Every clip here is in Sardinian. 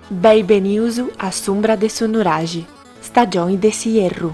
Beni benius a s'umbra de su nuraxi, stagioni de s'ierru.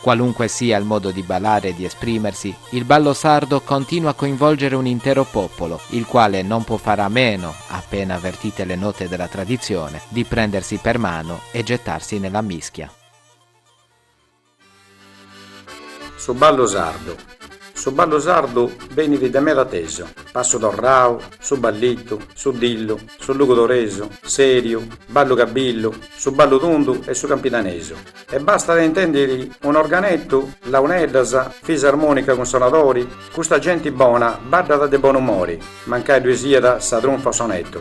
Qualunque sia il modo di ballare e di esprimersi, il ballo sardo continua a coinvolgere un intero popolo, il quale non può fare a meno, appena avvertite le note della tradizione, di prendersi per mano e gettarsi nella mischia. Su ballu sardu Su ballu sardu benit de meda atesu, passu torrau, su ballitu, su dillu, su lugudoresu, seriu, ballu cabillu, su ballu tundu e su campidanesu. E bastat a intendiri un'organetu, launeddas, fisarmonica cun sonadori, custa genti bona baddat de bon'umori, mancai ddui siat sa trunfa o sonetu.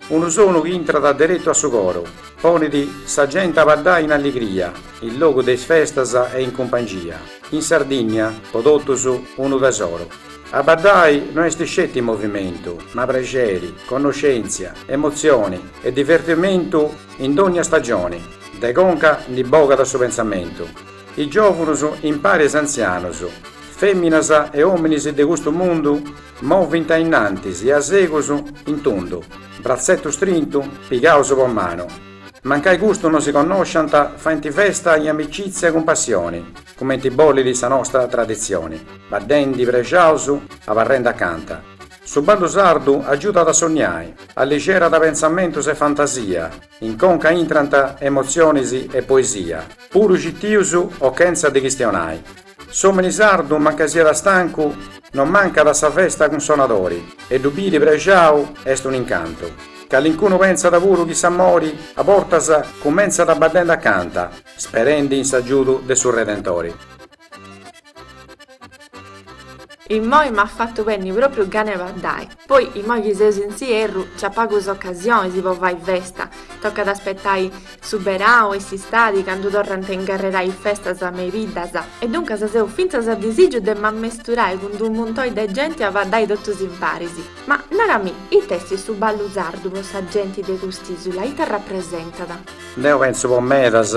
Unu sonu chi intrat deretu a su coru, ponit sa genti a baddai in alligria, in logu de is festas e in cumpangia. In Sardinnia, po totus, unu tesoru. A baddai no est sceti movimentu, ma prexeri, connoscèntzia, emotzioni e divertimentu in dònnia stagioni. De conca ndi bogat su pentzamentu, is giòvunus impari a is antzianus, fèminas e òminis de custu mundu movint a innantis e a segus in tundu, bratzetu strintu, pigaus po manu. Mancai custu no si connosciant, faint festa in amicìtzia cun passioni, cumenti bollit sa nostra traditzioni, baddendi prexaus, abarrendi acanta. Su ballu sardu agiudat a sonniai, alligerat pentzamentus e fantasia, In conca intrant emotzionis e poesia, puru citius o chentza de chistionai. S'omini sardu mancai siat stancu no mancat a sa festa cun sonadori e ddu biri prexau est un incantu. Calincunu pentzat puru chi s'amori a bortas cumentzat baddendi acanta, sperendi in s'agiudu de su Redentori. Immoi m'at fatu benni propriu gana 'e baddai. Poi immoi chi seus in s'ierru c'at pagus ocasionis po fai festa, tocat a aspetai su berau e s'istadi candu torrant a ingarrerai festas me i biddas e duncas seu fintzas a disìgiu de m'ammesturai cun d'unu muntoi de genti a baddai totus imparis. Ma narami, ita est su ballu sardu po sa genti de cust'isula, ita arrapresentat? Deu pentzu po medas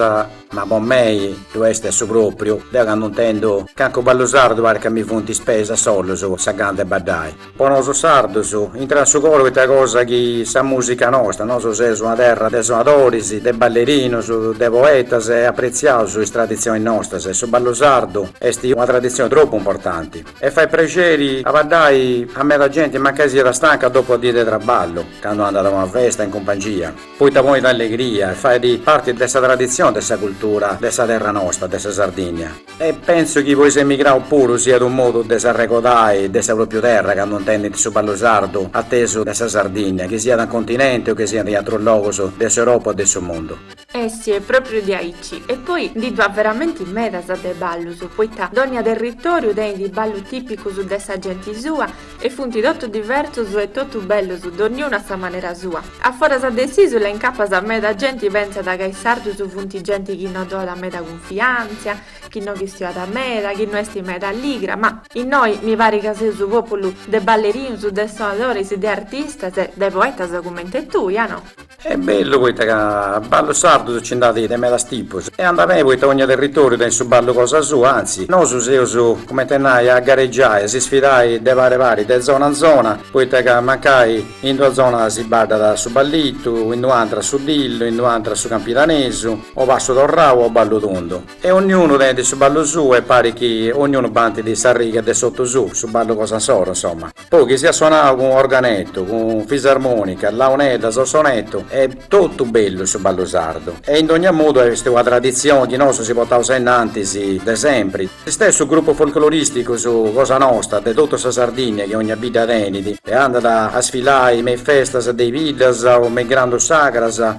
Ma po mei ddu est a su pròpriu, deu candu intendu cancunu ballu sardu parit ca mi funt is peis a solus sa gana de baddai. Po nosu sardus intrat in su coru poita cosa chi est sa mùsica nostra, nosu seus una terra de sonadoris, de ballerinus, de poetas e apretziaus is traditzionis nostras e su ballu sardu est una traditzioni tropu importanti e fait prexeri a baddai a meda genti mancai siat stanca dopu una dì de traballu candu andat a una festa in cumpangia. poita ponit allegria e fait parti de sa traditzioni de sa cultura de sa terra nosta, de sa Sardìnnia. E pentzu chi po is emigraus puru siat unu modu de s'arregodai de sa pròpriu terra candu intendint su ballu sardu atesu de sa Sardìnnia, chi siat in continenti o chi siat in atrus logus de s'Europa o de su mundu. Eh sì, est pròpriu diaici. E poi ndi ddu at veramenti medas de ballus, poita dònnia territòriu tenit is ballus tìpicus de sa genti sua, E funt totu diversus e totu bellus donniunu a sa manera sua. A foras de s'isula incapas meda genti pentzat ca is sardus funt genti chi no do'at meda cunfiantzia, chi no chistio'at meda, chi no est meda alligra, ma innoi mi parit ca seus su populu de ballerinus, de sonadoris, de artistas e de poetas cumenti tui, a no? Est bellu poita ca ballus sardus nci nd'at de medas tipus e andat beni poita ogna territoriu tenit su ballu cosa sua, anzi, nosu seus, cumenti a nai, a garegiai, a si sfidai de pari pari, de zona in zona, poita ca mancai in d'una zona si baddat su ballitu, in d'una antra su dillu, in d'una antra su campidanesu, o passu torrau o ballu tundu. E ognunu tenit su ballu suu e parit chi ognunu bantit s'arriga de s'otu suu, su ballu cosa insoru, insoma. Poi chi siat sonau cun organetu, cun fisarmonica, launeddas o sonetu, est totu bellu su ballu sardu. E in dogna modu est una traditzioni chi nosu si portaus ainnantis de sempri. S'istessu grupus folcloristicus cosa nosta de totu sa Sardinnia chi ogna bidda tenit e andat a sfilai me is festas de is biddas o me is grandus sagras,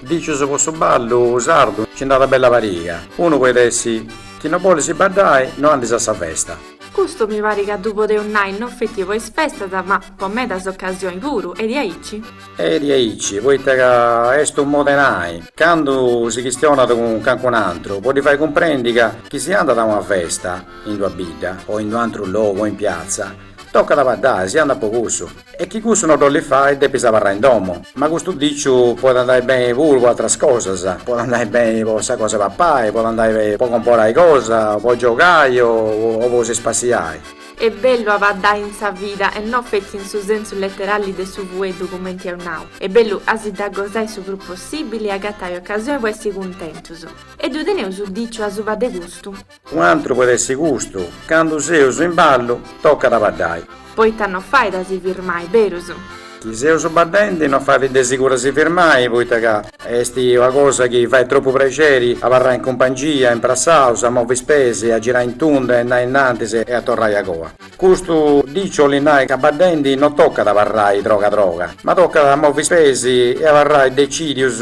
Dicius po su ballu sardu nci nd'at bella pariga, unu poit essi chi no bolis baddai no andis a sa festa. Custu mi parit ca ddu podeus nai no feti po is festas ma po medas ocasioni puru, est diaici? Est diaici poita ca est unu modu 'e nai, candu si chistionat cun cancun antru po ddi fai cumprendi ca chi si andat a una festa in d'una bidda o in d'unu antru logu o in piazza tocat a baddai, si andat po cussu. E chi cussu no dd'ollis fai, depis abarrai in domo. Ma custu diciu poit andai beni puru po atras cosas, poit andai beni po sa cosa 'e papai, poit andai beni po comporai cosa, po giogai o po si spassiai. Est bellu a baddai in sa vida e no fetzi in su sensu leterali de su fueddu cumenti eus nau, est bellu a si dda gosai su prus possibili e agatai ocasioni po essi cuntentus. E ddu teneus su diciu asuba de custu? U'antru poit essi custu. Candu seus in ballu tocat a baddai. Poita no fait a si firmai, berus? Chi seus baddendi no fait de siguru a si firmai, poita ca est una cosa chi fait tropu praxeri, abarrai in cumpangia, imprassaus, a movi is peis, a girai in tunda e andai innantis e a torrai agoa. Custu diciu 'olit nai ca baddendi no tocat a abarrai troga troga, ma tocat a movi is peis e abarrai decìdius.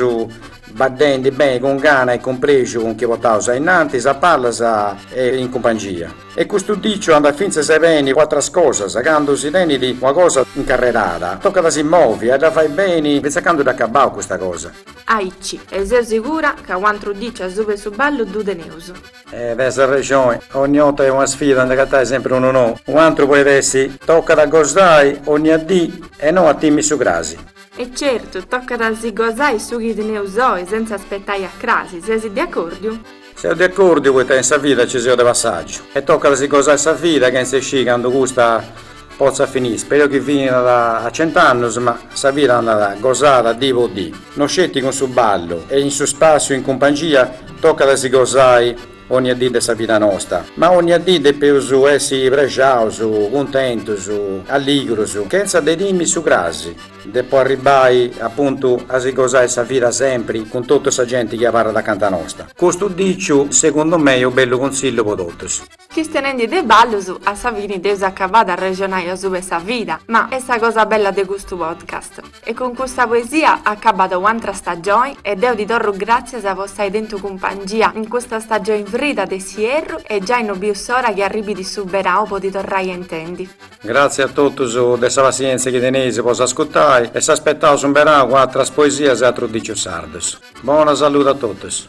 Baddendi beni cun gana e cun prexu cun chi potaus ainnantis, a palas e in cumpangia. E custu diciu andat fintzas beni po atras cosas, candu si tenit una cosa incarrerada, tocat a si movi e a dda fai beni fintzas a candu dd'acabau custa cosa. Aici, e seu sigura ca u' antru diciu asuba 'e su ballu ddu teneus. E tenis arrexoni, ogni 'orta est una sfida a nd'agatai sempri unu nou. U' antru poit essi, tocat a gosai onnia dì e no a timi su crasi. E certu, tocat a si gosai su chi teneus oi senza aspetai a crasi, sesi de acordiu? Seu de acordiu poita in sa vida nci seus de passàgiu e tocat a si gosai sa vida chentza iscì candu custa potzat finì, speru chi finat a cent'annus ma sa vida andat gosada dì po dì, no sceti cun su ballu e in su spàssiu in cumpangia, tocat a si gosai. Onnia dì de sa vida nosta. Ma onnia dì depeus essi prexaus, cuntentus, alligrus, chentza de timi su crasi, de po arribbai apuntu a si gosai sa vida sempri cun totu sa genti chi abarrat acanta nosta. Custu diciu, segundu mei, est u' bellu cunsillu po totus. Chistenendi de ballus, a sa fini dd'eus acabada a arrexonai asuba 'e sa vida, ma est sa cosa bella de custu podcast. E cun custa poesia acabat u'antra stagioni e deu ti torru gràtzias po s'ai tentu cumpangia in custa stagioni frida de s'ierru e giai no biu s'ora chi arribit su berau po ti torrai a intendi. Gràtzias a totus de sa passièntzia chi teneis po s'ascutai e s'aspetaus in berau cun atras poesias e atrus dicius sardus. Bona saludi a totus.